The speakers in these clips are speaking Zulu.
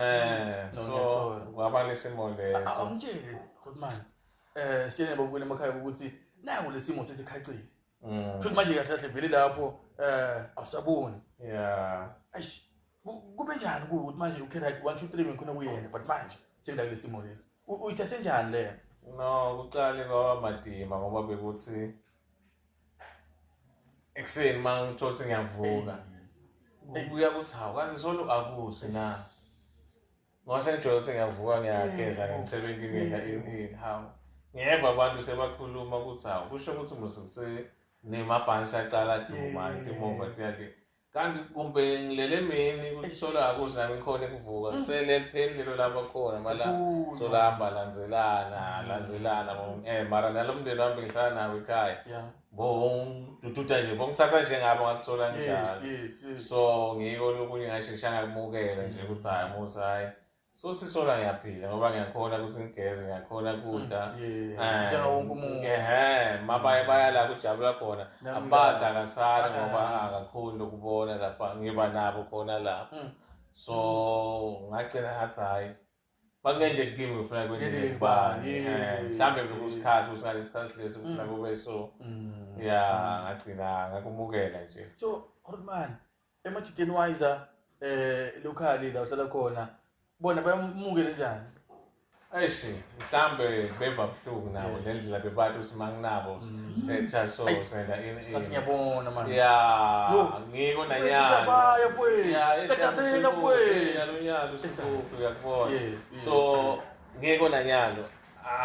Eh, so Ngiyathola. waba nesimo leso. awumtsheli futhi manje um siyene babukela emakhaya ukuthi naku le simo sesikhacile Mm. futhi manje kahle kahle vele lapho um awusaboni Yeah. eish ku- kube njani kuwe ukuthi manje ukhe right one two three bengikhona kuyena but manje sengida kule simo lesi U- uyithathe njani leyo No, kuqale kwaba madima ngoba bekuthi ekuseni uma ngithola ukuthi ngiyavuka ebuya ukuthi hawu kaze solo akusi na ngoba sengijwayele ukuthi ngiyavuka ngiyageza ngimsebenzi ngenza ini hawu ngeva abantu sebakhuluma ukuthi hawu kusho ukuthi musukusenemabhansi aqala duma intimova tiyake kanti kumbe ngilele mini kusolako uze angikhone kuvuka mm. selelipheni lelo lapho khona mala solahamba lanzelana mm. lanzelana um eh, mara nalo mndeni wami bengihlala nawo ekhaya bongidududa nje bongithatha njengabo ngalisola njalo so ngiko lokunye ngasho ngishangakumukela nje ukuthi hhayi musa hhayi so sisola ngiyaphila ngoba ngiyakhona ukuthi ngigeze ngiyakhona kudla mm, eh, mabaye mm. bayala kujabula khona abazi akasali ngoba akakhoni lokubona lapha ngiba nabo khona lapho mm. so ngagcina ngathi hhayi bakungenje kimi ngifuna kwenje kubani eh, mhlawumbe bekusikhathi ukuthi ngalesi sikhathi lesi kufuna kube so ya ngagcina ngakumukela nje so horman Emajiteni wayiza eh locally la uhlala khona bona bayamukele njani? Ayishi mhlambe beva buhlungu nabo ngendlela bebantu ukuthi manginabo mm. setha so senda in in. Asingiyabona manje. Yeah. Ngiko na yana. Baya kwethu. Yeah, esiyasela kwethu. Yalo yalo sikuphi uyakubona. So ngiko na nyalo.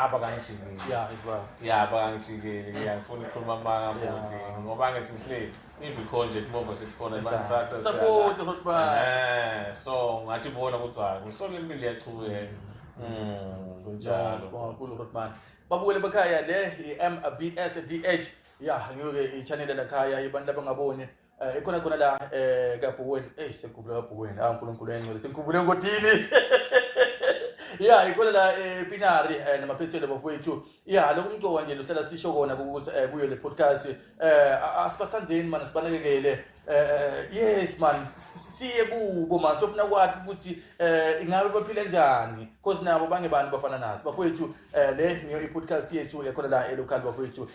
abakangishikeli ah, yeah it's well yeah abakangishikeli yeah ngifuna ukukhuluma amanga futhi ngoba ngithi ngihleli ivikho nje kumova sekukhona bangithatha support ukuthi ba eh so ngathi bona ukuthi hayi kusona impilo iyachubeka mm. mm kunjalo sibonga kulo ukuthi manje babukele bekhaya le i-MBS DH ya ngeke i-channel lakhaya ibantu abangaboni Eh, ikhona khona la eh kabhuweni eyi sengikhumbule kabhuweni ah unkulunkulu engcwele sengikhumbule engodini ya ikhona la eh, epinari eh, namaphethelo bafowethu ya lokhu umcoka nje luhlala sisho kona kukuze eh, kuyo le podcast eh a- asibathandeni mani sibanakekele eh eh, yes man siye kubo man sofuna kwathi ukuthi eh ingabe baphile njani cause nabo bangebani bafana nathi bafowethu eh le ngiyo i-podcast yethu yakhona la elocal bafowethu